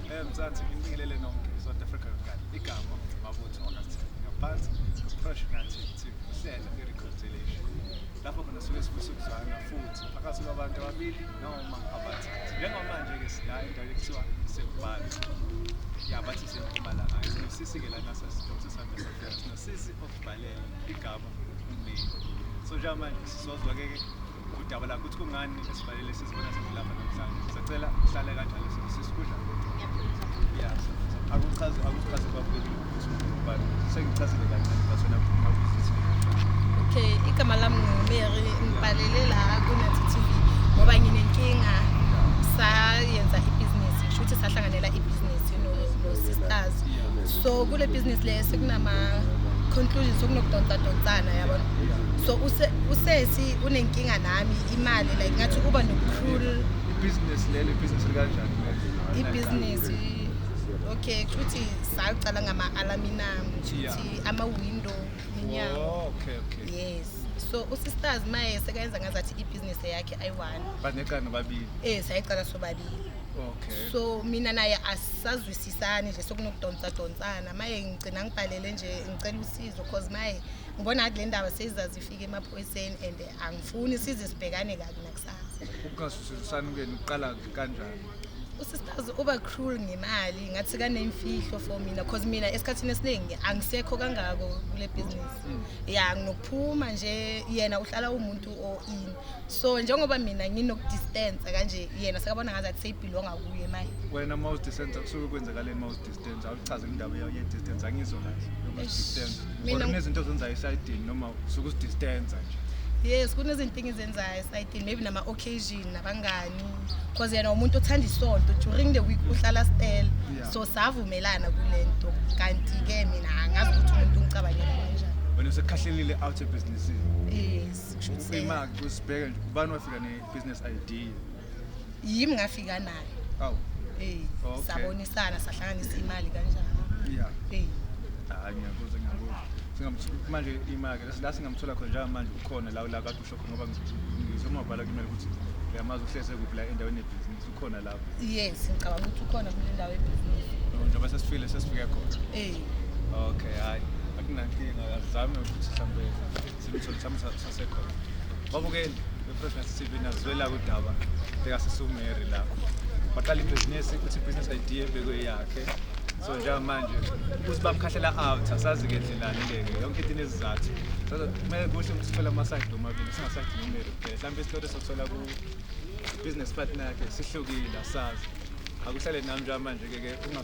Eh, Mzansi ngibingelele nonke South Africa ngani igama mabutho August ngaphansi kupressure ngathi ukuthi uhlelo i-reconciliation lapho khona suke sifisa ukuzwana futhi phakathi kwabantu ababili noma abathathu njengomanje ke sila endaweni ekuthiwa sekubhala ya bathi sempumalanga sisike lana sasithothi sami sasifika sisi okubhalela igama umlimi so njengamanje sizozwa ke udaba lakho ukuthi kungani esivalele sizibona sizilapha namhlanje sacela uhlale kanjalo sisikudla yes akuchaze akuchaze kwabukeli but sengichazile kancane but wena mawuzithi okay igama lami ngumeri ngibhalele la kunathi tv ngoba nginenkinga sayenza ibhizinisi kusho ukuthi sahlanganela ibhizinisi no-sisters so kule bhizinisi le sekunama-conclusions sokunokudonsadonsana yabona so usesi unenkinga nami imali like ngathi uba nobucrul ibhizinisi lelo ibhizinisi likanjani ibhizinisi okay kushuthi saqala ngama-alaminam kushuthi ama-window minyango oh, yes so usisters maye sekayenza ngazathi ibhizinisi yakhe ayi-one baneqala nobabili eh sayiqala sobabili okay so mina naye asisazwisisani nje sokunokudonsa donsana maye ngigcina ngibhalele nje ngicela usizo cause maye okay. ngibona ngathi le ndaba seyizazifika emaphoyiseni and angifuni size sibhekane kabi nakusasa ukungasusilisani kenu kuqala kanjani usisitazi uba cruel ngemali ngathi kaneyimfihlo for mina cause mina esikhathini esiningi angisekho kangako kule business hmm. ya nginokuphuma nje yena uhlala umuntu o-in so njengoba mina nginokudistansa kanje yena sekabona ngathi athi seyibhilonga kuye manje wena uma uzidistansa kusuke kwenzakaleni uma uzidistansa distance awuchaze indaba ye distance angizwa kahle noma distance or kunezinto ozenzayo esayidini noma usuke usidistance nje yes kunezinto engizenzayo esayidini maybe nama occasion nabangani because yena umuntu othanda isonto during the week uhlala stela so savumelana kulento kanti ke mina angazi ukuthi umuntu ungicabangela kanjani wena usekhahlelile out of business yes kusho ukuthi imali kusibheke nje ubani wafika ne business idea yimi ngafika naye awu eh Okay. sabonisana sahlanganisa imali kanjalo yeah eh hayi ngiyakuzwa ngiyakuzwa singamthola manje imali ke la singamthola khona njalo manje ukhona la la kade usho khona ngoba ngizwe umabhala kumele ukuthi uyamazi uhleze kuphi la endaweni yebhizinisi ukhona lapho yes ngicabanga ukuthi ukhona kule ndawo ebhizinisi njengoba sesifile sesifike khona eh okay hayi akunankinga azame ukuthi mhlawumbe Simthole sami sasekhona. Babukeni befresh TV nazwela kudaba likasisumeri la. Baqala ibhizinisi ukuthi ibhizinisi idea ebekuyakhe. So njengamanje ukuthi bamkhahlela out asazi ke ndlelani leke yonke into inezizathu. Kumele kuhle ukuthi sithole ama-side omabili singasayidi nomeri kuphela. Mhlawumbe isitolo sokuthola ku business partner yakhe sihlukile asazi. Akuhlale nami njengamanje ke ke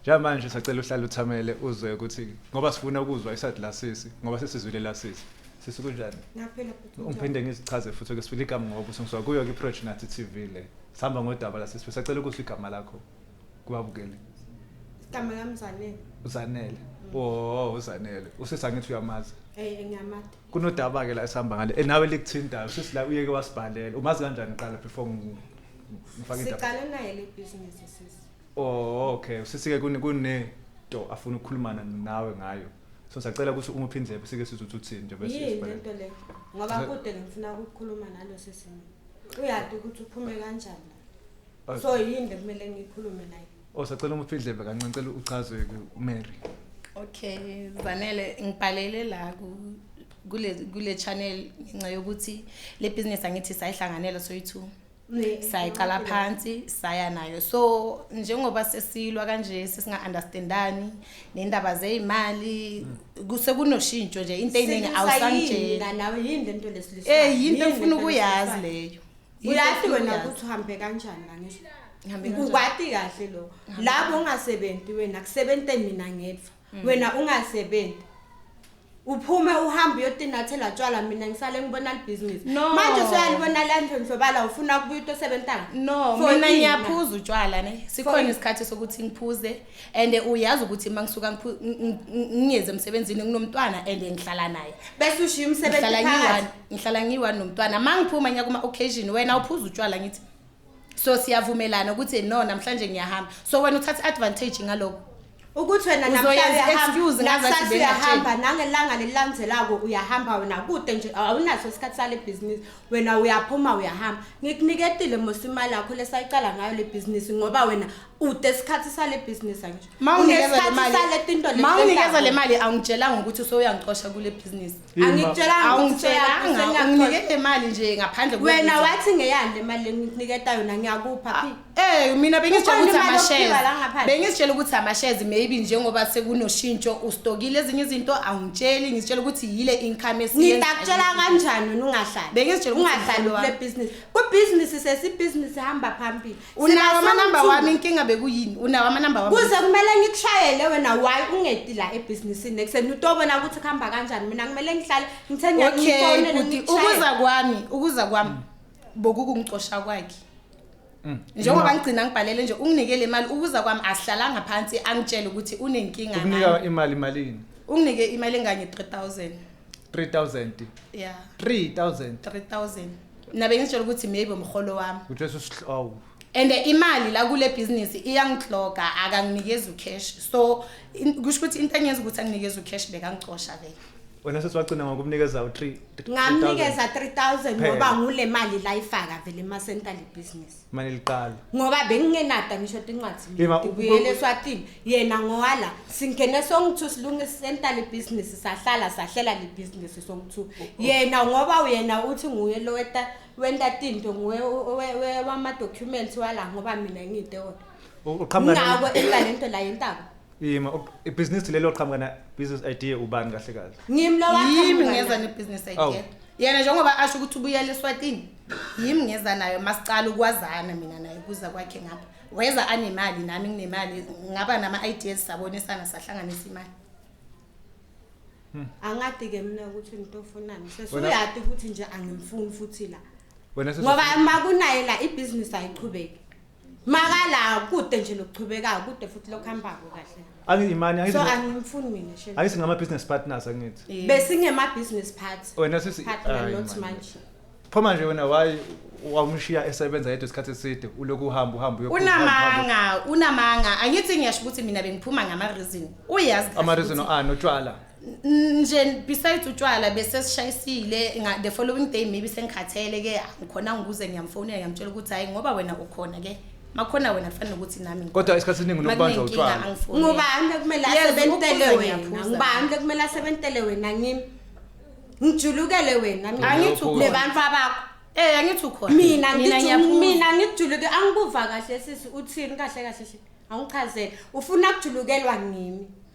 Njengamanje sacela uhlale uthamele uzwe ukuthi ngoba sifuna ukuzwa iside la sisi ngoba sesizwile la sisi. Sisi kunjani? Ngaphela bhuti. Ungiphinde ngizichaze futhi ukuthi sifuna igama ngoba usengizwa kuyo kwi-Project Nathi TV le. Sihamba ngodaba la sisi sacela ukuzwa igama lakho kubabukeli. Igama lami Zanele. Uzanele. Oh, uzanele. Usisi angithi uyamazi. Eh, ngiyamazi. Kunodaba ke la esihamba ngale. Eh, nawe likuthintayo. Sisi la uyeke wasibhalela. Umazi kanjani qala before ngifake indaba? Siqale naye le business sisi. Oh okay, usisi ke kune kune to afuna ukukhulumana nawe ngayo. So sacela ukuthi uma uphindle sike sizothi uthini nje bese Yini sibhale. lento le? Ngoba Sise- kude ngifuna ukukhuluma nalo sisi. Uyati ukuthi uphume kanjani la. Oh, So yini le kumele ngikhulume naye? Oh sacela uma uphindle kancane cela uchaze ku Mary. Okay, Zanele ngibhalele la ku kule kule channel ngenxa yokuthi le business angithi sayihlanganela soyi2. sayiqala phansi saya nayo so njengoba sesilwa kanje sesinga-understandani nendaba zeyimali sekunoshintsho nje into eyiningi awusanjeeyi yinto efuna ukuyazi leyo uyazi wena ukuthi uhambe kanjani kangehlaukwati kahle lo labo ongasebenzi wena kusebenze mina ngedwa Mm. wena ungasebenzi uphume uhambe uyotinathela tshwala mina ngisale ngibona libhizinisi No. manje soyalibona la ndlondlobala ufuna kubuya utosebentanga no For mina ini. ngiyaphuza utshwala ne sikhona ini? isikhathi sokuthi ngiphuze and uyazi ukuthi uma ngisuka ngiphu- ng- ng- ngiyeze emsebenzini nginomntwana and ngihlala naye bese ushiya umsebenzi ngihlala ngiyi-one phakathi ngihlala ngiyi-one nomntwana uma ngiphuma ngiya kuma-occasion wena uphuza utshwala ngithi so siyavumelana ukuthi no namhlanje ngiyahamba so wena uthatha advantage ngaloko ukuthi wena namhlambeuyahamba nangelanga lelilandzelako uyahamba wena kude nje awunaso isikhathi sale bhizinisi wena uyaphuma uyahamba ngikuniketile mos imali yakho lesayicala ngayo le bhizinisi ngoba wena ude isikhathi sale bhizinisi angisho mawunikeza le mali awungitshelanga ukuthi usowuyangicosha kule bhizinisi angikutshelanga ukuthi angitshelanga unginike le mali nje ngaphandle wena wathi ngeyani le mali lengikuniketa yona ngiyakupha ah, eh mina bengizitshela ukuthi amashares bengizitshela ukuthi amashares maybe njengoba sekunoshintsho ustokile ezinye izinto angitsheli ngizitshela ukuthi yile income esiyenza ngidakutshela kanjani wena ungahlali bengizitshela ungahlali le business ku business sesi business hamba phambili unawo amanamba wami inkinga bekuyini unawo amanamba wami kuze kumele ngikushayele wena why ungedi la ebhizinisini ekuseni utobona ukuthi kuhamba kanjani mina kumele ngihlale ngithenya ngifone ukuthi ukuza kwami ukuza kwami bokukungicosha kwakhe mm. njengoba ngigcina ngibhalele nje unginikele imali ukuza kwami asihlalanga phansi angitshele ukuthi unenkinga ngani unika imali malini unginike imali enganye 3000 3000 yeah 3000 3000 mina bengizitshela ukuthi maybe umholo wami Uthi bese usihlobo. and imali la kule business iyangihloga akanginikezi ucash so in- kusho ukuthi into engenza ukuthi anginikeze ucash bekangicosha vele Wena sesi wagcina ngokumnikeza u3. ngamnikeza 3000 Phela. ngoba ngule mali la ifaka vele emasenta le business mane liqala ngoba bengingenada ngisho ukuthi incwadi Yema, u- ngibuyele u- eswatini yena ngowala singene songithu silungisenta libhizinisi sahlala sahlela libhizinisi songithu yena ngoba uyena uthi nguye lo weta- wenta tinto nguye o- o- we- we- wama-documents wala ngoba mina ngiyidewona uqhamuka ngako elale nto la yentaba Yima ok- ibhizinisi lelo qhamuka na business idea ubani kahle kahle? Ngimi lo wakhe yimi mngani. ngeza nebusiness Awu. idea yena njengoba asho ukuthi ubuyela eswatini yimi ngeza nayo masicala ukwazana mina naye kuza kwakhe ngapha weza anemali nami nginemali ngaba nama-ideas sabonisana sahlanganisa imali angati ke mina ukuthi ngitofunani Wena- sesuyati ukuthi nje angimfuni futhi la Wena ngoba sesizofunana. uma kunaye la ibhizinisi ayiqhubeki makala kude nje nokuchubekayo kude futhi lokuhambako kahle angiyimani angithi so no- angimfuni mina shame angithi ngama business partners angithi besingema business party wena sisi partner Ayi, not man. manje pho manje wena why wamshiya esebenza yedwa isikhathi eside ulokhu uhamba uhamba uyophuma, uhamba, uhamba. unamanga unamanga angithi ngiyasho ukuthi mina bengiphuma ngama reason uyazi kahle Ama reason ukuthi- ani utshwala nje besides utshwala bese sishayisile the following day maybe sengikhathele ke ngikhona ngikuze ngiyamfonela ngiyamtshela ukuthi hayi ngoba wena ukhona ke makhona wena kufanele ukuthi nami kodwa isikhathi esiningi unokubanjwa utshwala ngubani kumele asebentele wena ngubani kumele asebentele wena ngimi ngijulukele wena angithi nebantu abakho Eh angithi ukhona. Mina ngithi mina ngijuluke angikuva kahle sisi uthini kahle kahle nje. Angichazele. Ufuna kujulukelwa ngimi.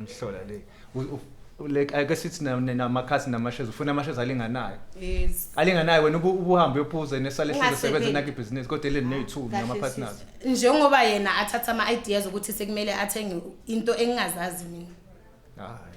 imhlola le like ake sithi namakhasi namashes ufuna amashes alinganayo yes alinganayo wena ubuhambe uyophuza nesale hlelo sebenza nakho ibhizinisi kodwa eleni neyi2 nama partners njengoba yena athatha ama ideas ukuthi sekumele athenge into engingazazi mina hayi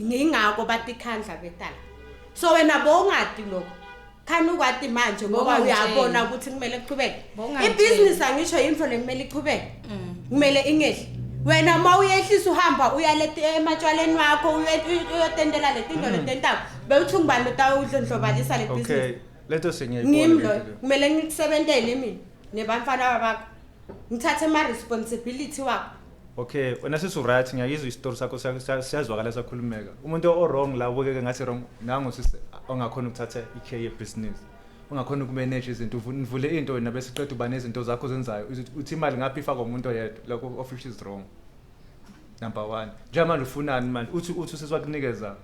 Ngingako batikhandla betala. So wena bowungadi lokho. Khani ukwati manje ngoba Bowungangitsheli. uyabona ukuthi kumele kuqhubeke. Bowungangitsheli. Ibusiness angisho into lekumele iqhubeke. Mm. Kumele ingehli. Wena uma uyehlisa uhamba uya leti ematshwaleni wakho uye- uye- uyotentela letinto Mm. letentako. Bewuthi ngubani utawudlondlobalisa le business. Okay. Leto sengiyayibona ngimi lento loyo leyo. kumele ngikusebentele mina nebantfwana babakho ngithathe ma-responsibility wakho okay wena sisuright ngiyakizwa isitori sakho siyazwakala sakhulumeka umuntu o-wrong la ubukeke ngathi wrong nangu sisi ongakhona ukuthatha i-care yebusiness ungakhona ukumanage izinto nivule into wena bese qeda uba nezinto zakho zenzayo uthi imali ngaphi ifakwa umuntu oyedwa lokho office is wrong number one njengamanje ufunani manje uthi uthi usesiwakunikeza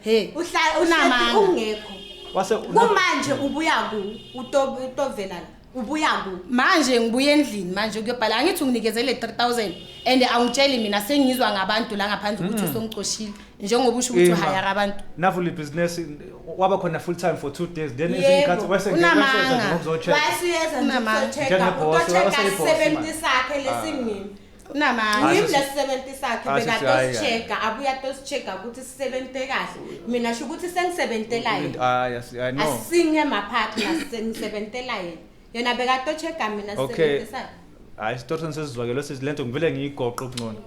Hey, uhlala unamanga. Ungekho. Wase kumanje ubuya ku utovela la. Ubuya ku. Manje ngibuye endlini manje kuyobhala angithi unginikezele 3000 and awungitsheli mina sengizwa ngabantu la ngaphandle ukuthi mm. usongicoshile njengoba usho ukuthi uhayara abantu. Navu le business waba khona full time for 2 days then izinkathi wase ngiyasheza ngokuzocheck. Wase yeza ngokuzocheck. Utocheck 70 sakhe lesingini. Unamanga. Yimi lesisebenzi sakhe Asisi, bekade hayi, hayi. osicheka abuya tosicheka ukuthi sisebenze kahle. Mina sho ukuthi sengisebenzela yena. Hayi, asi- hayi, no. Asinge mapartner sengisebenzela yena. Yena bekade ocheka mina Okay. sisebenze sakhe. Hayi, Storton sesizwakele sisi lento ngivele ngiyigoqe okungcono.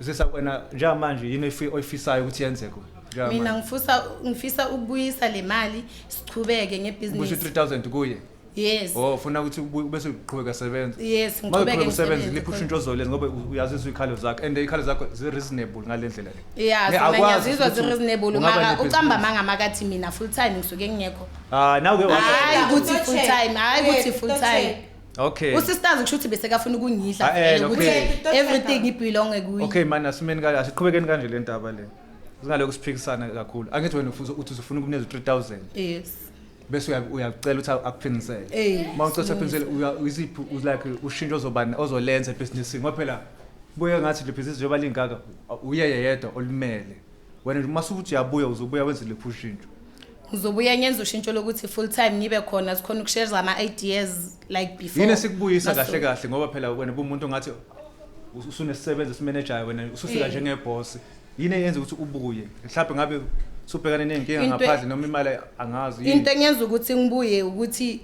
Sisa wena njengamanje yini oyifi- oyifisayo ukuthi yenzeke? Njengamanje. Mina ngifisa ngifisa ukubuyisa le mali sichubeke Ubusho ngebhizinisi. 3000 kuye. yes oh ufuna ukuthi ubu- bese uqhubeka sebenza yes Uma ngiqhubeke uqhubeka usebenza ngisebenze liphi ushintsho ozolenza ngoba u- uyazi izikhalo zakho and ikhalo zakho zi-reasonable ngale ndlela le ya Ne, zona akwazi ngiyazizwa ukuthi zi-reasonable ungaba mara nebhizinisi. ucamba amanga makathi mina full time ngisuke ngingekho Ah, nawe ke washo. Hayi, Hayi, ukuthi full time, hayi ukuthi full time. Okay. usisters kusho ukuthi besekafuna ukungidla Ah, eh, vele ukuthi okay. everything ibhilonge kuye Okay man asimeni kanje asiqhubekeni kanje le ndaba le. Singalokho siphikisana kakhulu. Angithi wena ufuza uthi usufuna ukuneza 3000. yes bese uya- uyacela ukuthi akuphinisele Ey, uma ucela ukuthi akuphinisele uya- iziphi u- like ushintsho ozobani ozolenza ebhizinisini ngoba phela buye ngathi le bhizinisi njengoba lingaka u- uyeye yedwa olimele wena uma sukuthi uyabuya uzobuya wenze lephi ushintsho ngizobuya ngenza ushintsho lokuthi full time ngibe khona sikhona ukushare ama-ideas like before yini esikubuyisa Naso- kahle kahle ngoba phela wena bumuntu ngathi usunesisebenzi esimenejayo wena usufika Yeah. njengebhosi yini eyenza ukuthi ubuye mhlawumbe ngabe subhekane ney'nkinga Into- ngaphandle noma imali angazi yini? into engenza ukuthi ngibuye ukuthi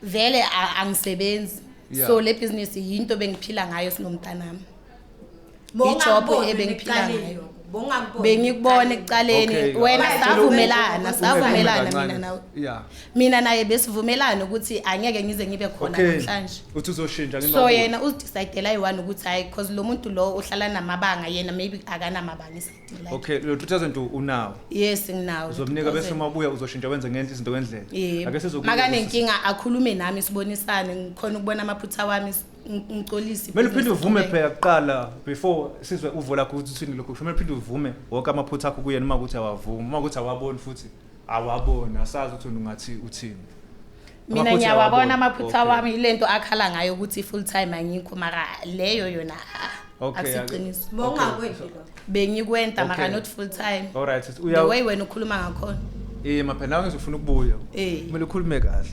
vele a- angisebenzi Yeah. so le business yinto bengiphila ngayo sinomntanami ijob ebengiphila ngayo bongangiboni bengikubona ekuqaleni Okay, wena okay. savumelana Ukhulume savumelana kancane. mina nawe Yeah. mina naye besivumelana ukuthi angeke ngize ngibe khona Okay. namhlanje Uthi uzoshintsha so ngenxa yena uzidecidela yi-one ukuthi hhayi because lo muntu lo uhlala namabanga yena maybe akanamabanga isidila Okay, lo 2002 unawo. yes nginawo Uzomnika bese uma ubuya uzoshintsha wenze ngenhla izinto ngendlela. Yebo. Ake sizokubuza. makanenkinga akhulume nami sibonisane ngikhona ukubona amaphutha wami s- ng- ngicolise Mele uphinde ibhizinisi uvume liqhubeke. phela kuqala before sizwe uvo lakho ukuthi uthini lokho. Kumele uphinde uvume wonke amaphutha akho kuyena uma ukuthi awavumi, uma ukuthi awaboni futhi. awaboni asazi ukuthi ungathi uthini mina ngiyawabona amaphutha wami ilento akhala ngayo ukuthi full time angikho mara leyo yona akusiqiniso bongakwenzi lo bengikwenta mara not full time all right uya the way wena ukhuluma ngakhona eh maphe nawe ngizofuna ukubuya eh. kumele ukhulume kahle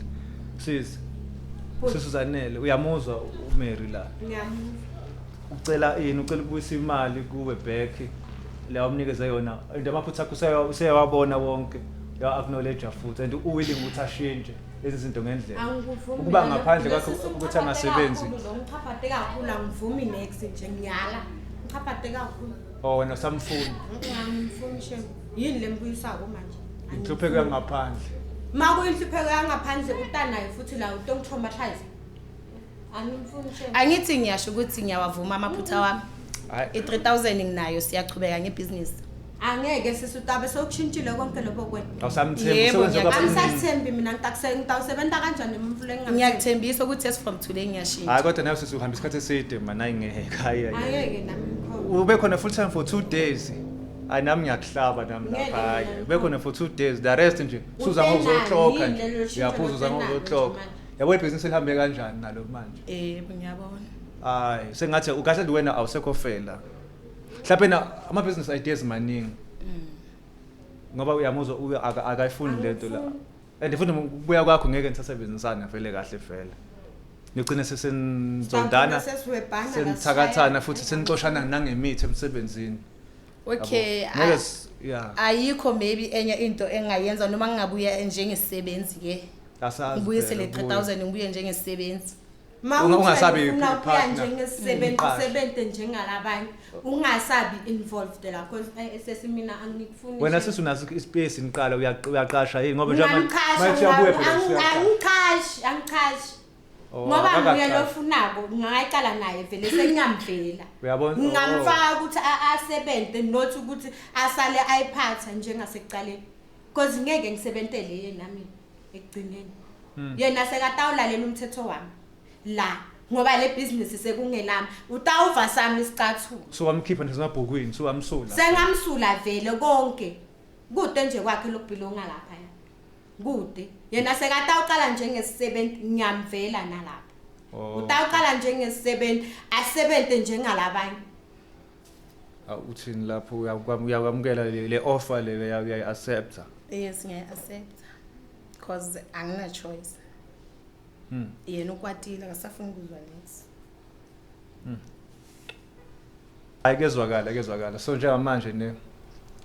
sisi sisuzanele uyamuzwa uMary la ngiyamuzwa ucela ini ucela ukubuyisa imali kuwe back la umnikeze yona and amaphutha akho useya- useyawabona wonke ya acknowledge futhi and u willing ukuthi ashintshe lezi zinto ngendlela Angikuvumi ukuba mina. ngaphandle kwakho Lesi ukuthi siwuchaphathe angasebenzi kakhulu, lo ngichaphathe kakhulu angivumi next nje ngiyala ngichaphathe kakhulu or Oh, wena usamfuni angimfuni shem yini le mbuyisako manje inhlupheko yangaphandle ma kuyinhlupheko yangaphandle utanayo futhi la utongitraumatise angithi ngiyasho ukuthi ngiyawavuma amaphutha mm-hmm. wami i-3000 nginayo siyachubeka ngebhizinisi angeke sisi utabe sokushintshile konke lokho kwenaanisathembi mina ngitawusebenza kanjani mfulengiyakthembisa ukuthi as from today ngiyashintsha hayi kodwa nayo sisi uhamba isikhathi eside mana ingehekaya ube khona full time for two days hayi nami ngiyakuhlaba nami lapha hayi ube khona for two days the rest nje suza ngokuzoxoka nje uyaphuza uza ngokuzoxoka yabo ibhizinisi lihambe kanjani nalo manje eh ngiyabona hayi sengathi ukahle nje wena awusekho fela mhlawumbe na ama business ideas maningi mm. ngoba uyamuzwa uye akayifuni lento la and futhi ukubuya kwakho ngeke nisasebenzisana vele kahle vele nigcine sesenizondana senithakathana futhi senixoshana nangemithi emsebenzini okay ayikho maybe enye into engayenza noma ngingabuya njengesisebenzi ke ngibuyisele 3000 ngibuye njengesisebenzi ungasabi ukuya njengesebenzi mm. usebenze njengalabanye ungasabi involved la because eh, sesimina angikufuni wena sisi unaso ispace niqala uyaqasha yini ngoba njengoba manje uyabuya phela angiqashi angiqashi Oh, ngoba akakacaci. nguye lofunako ngingaqala naye vele sengingamvela Uyabona? ngingamfaka ukuthi a- asebenze not ukuthi asale ayiphatha njengasekuqaleni because ngeke ngisebentele yena mina ekugcineni Hmm. yena sekatawulalela umthetho wami la ngoba le bhizinisi sekungelami utawuva sami isicathulo So wamkhipha nje emabhukwini, so wamsula. sengamsula vele konke kude nje kwakhe lokubhilonga lapha Kude. Yena sekatawuqala njengesisebenzi ngiyamvela nalapha. Oh. Utawuqala njengesisebenzi asebenze njengalabanye. Aw, uthini lapho uyakwam- uyakwamukela le le offer le uya- uyayi-accepta Yes ngiyayi-accepta cause angina-choice. Hmm. Yena ukwatile akasafuni kuzwa next. ayikezwakala akezwakala so njengamanje ne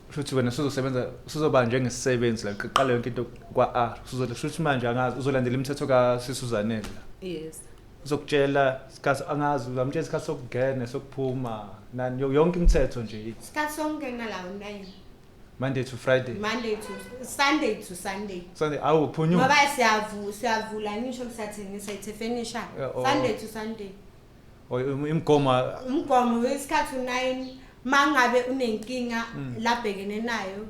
futhi wena sizosebenza sizoba njengesisebenzi la qala yonke into kwa-r sizothi futhi manje angazi uzolandela imithetho kasisuzanele la yes uzokutshela isikhathi angazi uzamtshela isikhathi sokungena sokuphuma nani yo- yonke imithetho nje isikhathi sokungena la unayini Monday to Friday. Monday to Sunday to Sunday. Sunday awu phunyuka. Ngoba siyavu siyavula ngisho kusathengisa it's a furniture. Yeah, oh. Sunday to Sunday. Oh imgomo umgomo wesikhathi u9 mangabe unenkinga mm. labhekene nayo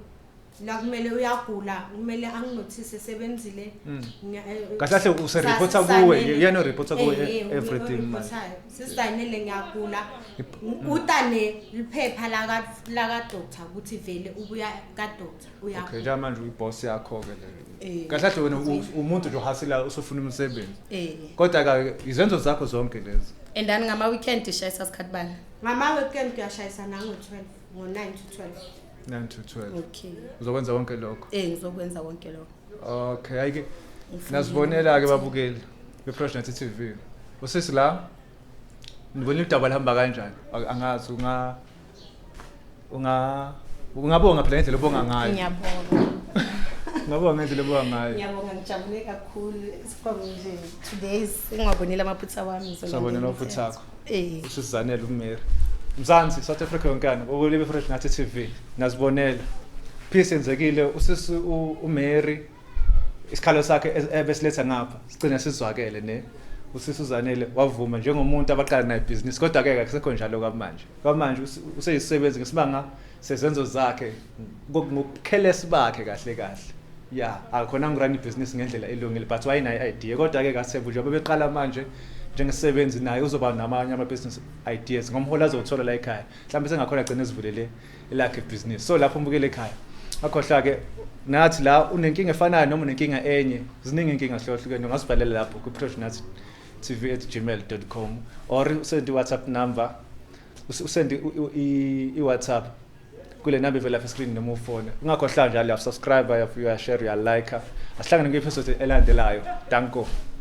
la kumele uyagula kumele anginothise sebenzile mm. eh, kahle kahle usereporta kuwe uyano reporta kuwe eh, eh, everything sisainele ngiyagula utane liphepha laka laka doctor ukuthi vele ubuya ka doctor uya okay ja manje uyi boss yakho ke le eh. kahle kahle wena umuntu nje uhasila usufuna umsebenzi eh. kodwa ka izenzo zakho zonke lezi and ani ngama weekend ishayisa sikhathi bani ngama weekend uyashayisa nango 12 ngo 9 to 12 9 to 12 okay uzokwenza konke lokho eh ngizokwenza konke lokho Okay, ayike. Nasibonela ke babukeli beProsh Nathi TV. Usisi la nibona udaba lihamba kanjani? Ak- Angazi unga unga ungabonga phela ngendlela obonga ngayo. ngiyabonga Ungabonga ngendlela obonga ngayo. ngiyabonga ngijabule kakhulu isikhongo nje today singwabonile amaphutha wami ngizonambela Sabonela umthetho. ufuthi sakho. Eh. usizanele umeri mzansi south africa yonkana kokulibe fresh nathi tv nazibonela peace yenzekile usisi u- umary isikhalo sakhe es- ebesiletha ngapha sigcine sizwakele ne usisi uzanele wavuma njengomuntu abaqala naye ibhizinisi kodwa-ke kakusekho njalo kwamanje kwamanje usi- useyisebenzi ngesibanga sezenzo zakhe ngokukhelesi bakhe kahle kahle ya akhona ngirani ibhizinisi ngendlela elungile but wayenayo i-idea kodwa-ke kasevu njengoba beqala manje njengesebenzi naye uzoba namanye ama-business ideas ngomholi azowuthola la ekhaya mhlawumbe sengakhona agcine ezivulele elakhe ibhizinisi so lapho umbukele ekhaya akhohlwa-ke nathi la unenkinga efanayo noma unenkinga enye ziningi inkinga hlukahlukene ungasibhalela lapho kwi-prosh nathi tv at gmail com or send i-whatsapp number usend i-whatsapp kule number ivela lapha screen noma ufone ungakhohlwa njalo uyasubscribe uyashare uyalike asihlangane kwi-episode elandelayo danko